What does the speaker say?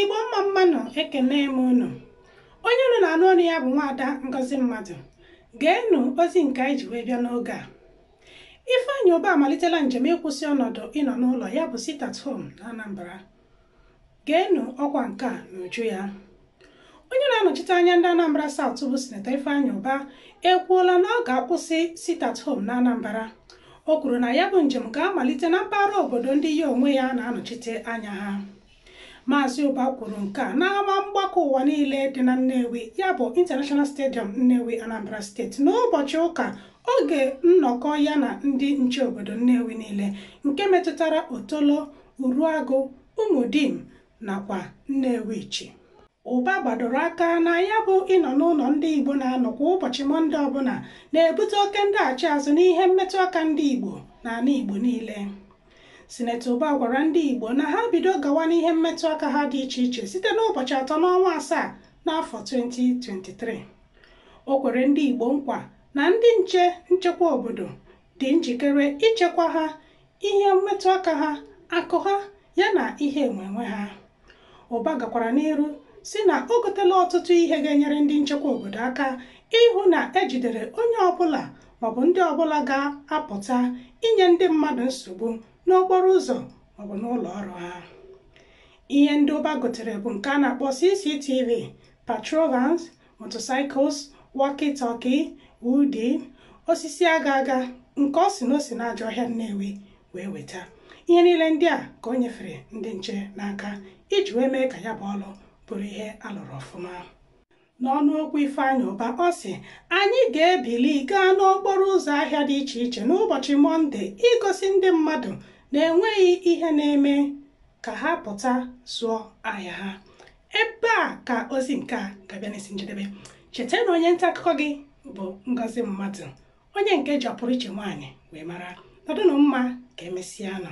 Igbo mma mma nụ ekene m unu onye unu na-anụ ọnụ ya bụ nwaada Ngozi Mmadụ geenụ ozi nke anyị ji wee bịa n'oge a Ifeanyi Uba amalitela njem ịkwụsị ọnọdụ ịnọ n'ụlọ ya bụ sit at home na Anambra geenụ ọkwa nke a n'uju ya onye na-anọchite anya ndị Anambra South bụ sinetọ Ifeanyi Uba ekwuola na ọ ga-akwụsị sit at home na Anambra o kwuru na ya bụ njem ga-amalite na mpaghara obodo ndị ya onwe ya na-anọchite anya ha Maazị Uba kwuru nke a n'ama mgbakọ ụwa niile dị na Nnewi ya bụ International Stadium Nnewi Anambra steeti n'ụbọchị ụka oge nnọkọ ya na ndị nche obodo Nnewi niile nke metụtara Otolo, Uruagụ, Umudim nakwa Nnewichi. Ụba gbadoro aka na ya bụ ịnọ n'ụlọ ndị Igbo na-anọ kwa ụbọchị Mọnde ọbụla na-ebute oke ndaghachi azụ n'ihe mmetụ aka ndị Igbo n'ala Igbo niile. Sinetọ Uba gwara ndị Igbo na ha bido gawa n'ihe mmetụ aka ha dị iche iche site n'ụbọchị atọ n'ọnwa asaa n'afọ 2023. O kwere ndị Igbo nkwa na ndị nche nchekwa obodo dị njikere ichekwa ha, ihe mmetụ aka ha, akụ ha yana ihe enwenwe ha. Ụba gakwara n'iru si na o gotela ọtụtụ ihe ga-enyere ndị nchekwa obodo aka ịhụ na ejidere onye ọbụla maọbụ ndị ọbụla ga-apụta inye ndị mmadụ nsogbu n'okporo ụzọ maọbụ n'ụlọ ọrụ ha. Ihe ndị Ụba gotere bụ nke a na-akpọ CCTV, patrol vans, motorcycles, walkie-talkie, ụdị osisi aga aga nke ọ sị na o si n'ajọ ọhịa Nnewi wee weta ihe niile ndị a ka o nyefere ndị nche n'aka iji wee mee ka ya bụ ọlụ bụrụ ihe a lụrụ ọfụma n'ọnụ okwu Ifeanyị Ụba ọ sị anyị ga-ebili gaa n'okporo ụzọ ahịa dị iche iche n'ụbọchị Mọnde igosi ndị mmadụ na enweghị ihe na-eme ka ha pụta zụọ ahịa ha ebe a ka ozi nke a ga-abịa n'isi njedebe cheta na onye nta akụkọ gị bụ Ngozi Mmadụ onye nke ji ọpụrụ iche nwaanyị wee mara nọdụnụ mma ka emesịanụ